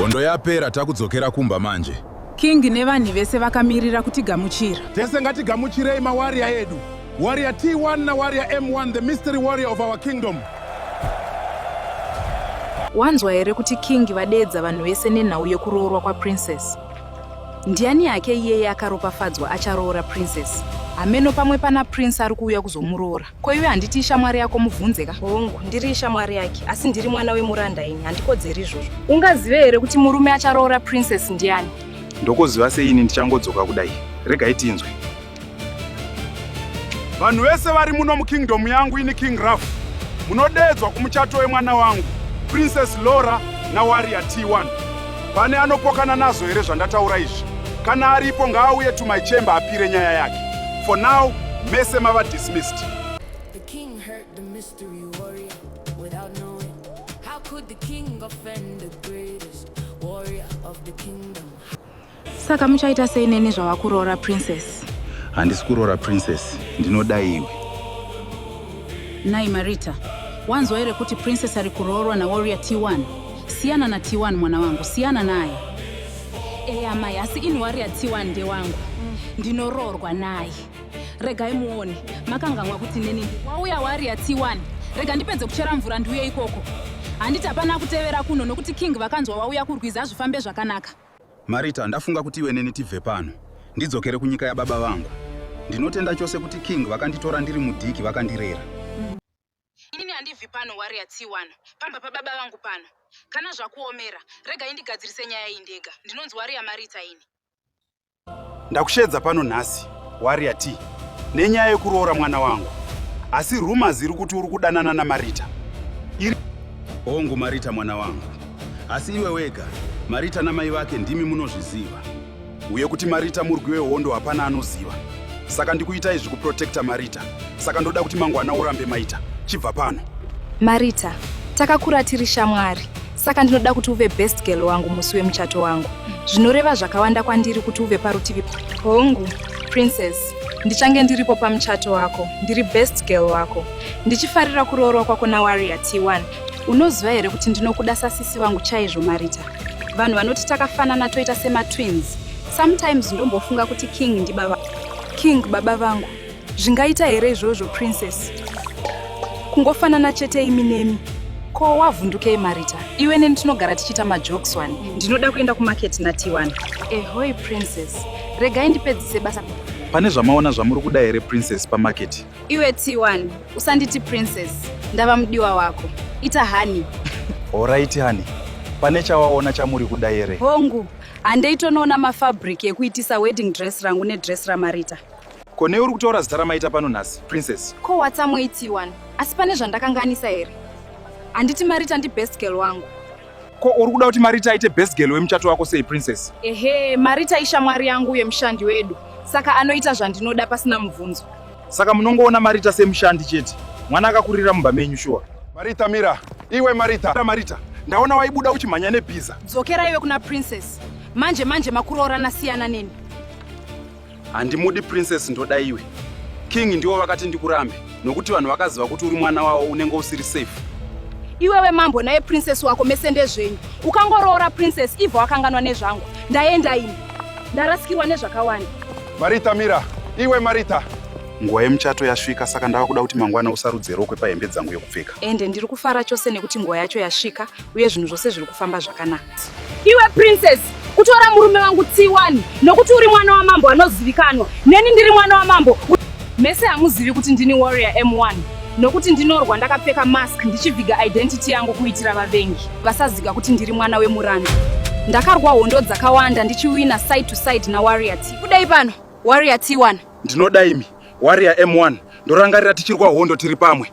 Hondo yapera takudzokera kumba manje. King nevanhu vese vakamirira kutigamuchira. Tese ngatigamuchirei mawarrior edu. Warrior T1 na Warrior M1 the mystery warrior of our kingdom. Wanzwa here kuti King vadeedza vanhu vese nenhau yekuroorwa kwaPrincess? Ndiani yake iyeye akaropafadzwa acharoora princess? Hameno pamwe pana prince ari kuuya kuzomuroora. Ko iwe handiti ishamwari yako mubvunze ka? Hongu, ndiri ishamwari yake, asi ndiri mwana wemuranda ini, handikodzeri izvozvo. Ungazive here kuti murume acharoora princess ndiani? Ndokoziva sei ini ndichangodzoka kudai? Regai tinzwe. vanhu vese vari muno mukingdom yangu ini king raf munodeedzwa kumuchato wemwana wangu princess lora nawaria t1 pane anopokana nazvo here zvandataura izvi kana aripo ngaauye to my chamber apire nyaya yake for now mese mava dismissed the king heard the mystery warrior without knowing how could the king offend the greatest warrior of the kingdom Saka muchaita sei neni zvavakuroora princess? Handisi kuroora princess, ndinoda iwe. Nai Marita, wanzwa here kuti princess ari kuroorwa naWarrior T1? Siyana na T1 mwana wangu, siyana naye. Eya mai, asi ini Warrior T1 ndewangu. Ndinoroorwa naye. Regai muone, makanganwa kuti neni wauya Warrior T1. Rega ndipedze kuchera mvura ndiuye ikoko. Handiti hapana kutevera kuno nokuti king vakanzwa wauya kurwizi hazvifambe zvakanaka. Marita, ndafunga kuti iwe neni tibve pano. Ndidzokere kunyika yababa vangu. Ndinotenda chose kuti King vakanditora ndiri mudiki vakandirera. Ini handibvi pano Warrior T1. Pamba pababa vangu pano. Kana zvakuomera, rega indigadzirise nyaya iyi ndega. Ndinonzi Warrior Marita ini. Ndakusheedza pano nhasi, Warrior T, nenyaya yekuroora mwana wangu. Asi rumors iri kuti uri kudanana naMarita. Iri hongu Marita mwana wangu. Asi iwe wega, Marita namai vake ndimi munozviziva. Uye kuti Marita murwi wehondo hapana anoziva. Saka ndikuita izvi kuprotecta Marita. Saka ndoda kuti mangwana urambe Maita. Chibva pano. Marita, takakura tiri shamwari. saka ndinoda kuti uve best girl wangu musi wemuchato wangu zvinoreva zvakawanda kwandiri kuti uve parutivi hongu princess ndichange ndiripo pamuchato wako ndiri best girl wako ndichifarira kuroorwa kwako nawarrior t1 unoziva here kuti ndinokuda sasisi vangu chaizvo marita vanhu vanoti takafanana toita sematwins sometimes ndombofunga kuti king ndibaba king baba vangu Zvingaita here izvozvo, Princess? Kungofanana chete imi nemi. Ko wavhundukei Marita? Iwe neni tinogara tichiita majokes wani. Ndinoda kuenda kumarket naTiwani. Ehoi, Princess. Regai ndipedzise basa. Pane zvamaona zvamuri kuda here, Princess, pamarket? Iwe Tiwani, usanditi Princess. Ndava mudiwa wako. Ita honey. Horaiti honey. Pane chawaona chamuri kuda here? Hongu, handei tonoona mafabric ekuitisa wedding dress rangu nedress raMarita. Ko newe uri kutaura zita ramaita pano nhasi, Princess? Ko watsamoiti wani? Asi pane zvandakanganisa here? Handiti Marita ndi best girl wangu. Ko uri kuda kuti Marita aite best girl wemuchato wako sei, Princess? Ehe, Marita ishamwari yangu uye mushandi wedu. Saka anoita zvandinoda pasina mubvunzo. Saka munongoona Marita semushandi chete. Mwana akakurira mumba menyu shuwa. Marita mira, iwe Marita. Mira Marita, ndaona waibuda uchimhanya nebhiza. Dzokera iwe kuna Princess. Manje manje makuroorana siyana neni. handimudi princess ndoda iwe king ndiwo vakati ndikurambe nokuti vanhu vakaziva kuti uri mwana wavo unenge usiri safe iwewe mambo naye princess wako mese ndezvenyu ukangoroora princess ivo wakanganwa nezvangu ndaenda ini ndarasikirwa nezvakawanda marita mira iwe marita nguva yemuchato yasvika saka ndava kuda kuti mangwana usarudze rokwe pahembe dzangu yekupfeka ende ndiri kufara chose nekuti nguva yacho yasvika uye zvinhu zvose zviri kufamba zvakanaka Iwe princess kutora murume wangu tsiwani nokuti uri mwana wamambo anozivikanwa neni ndiri mwana wamambo mese hamuzivi kuti ndini warrior m1 nokuti ndinorwa ndakapfeka mask ndichiviga identity yangu kuitira vavengi vasaziga kuti ndiri mwana wemuranda ndakarwa hondo dzakawanda ndichiwina side to side nawarrior t kudai pano warrior t1 ndinoda imi warrior m1 ndorangarira tichirwa hondo tiri pamwe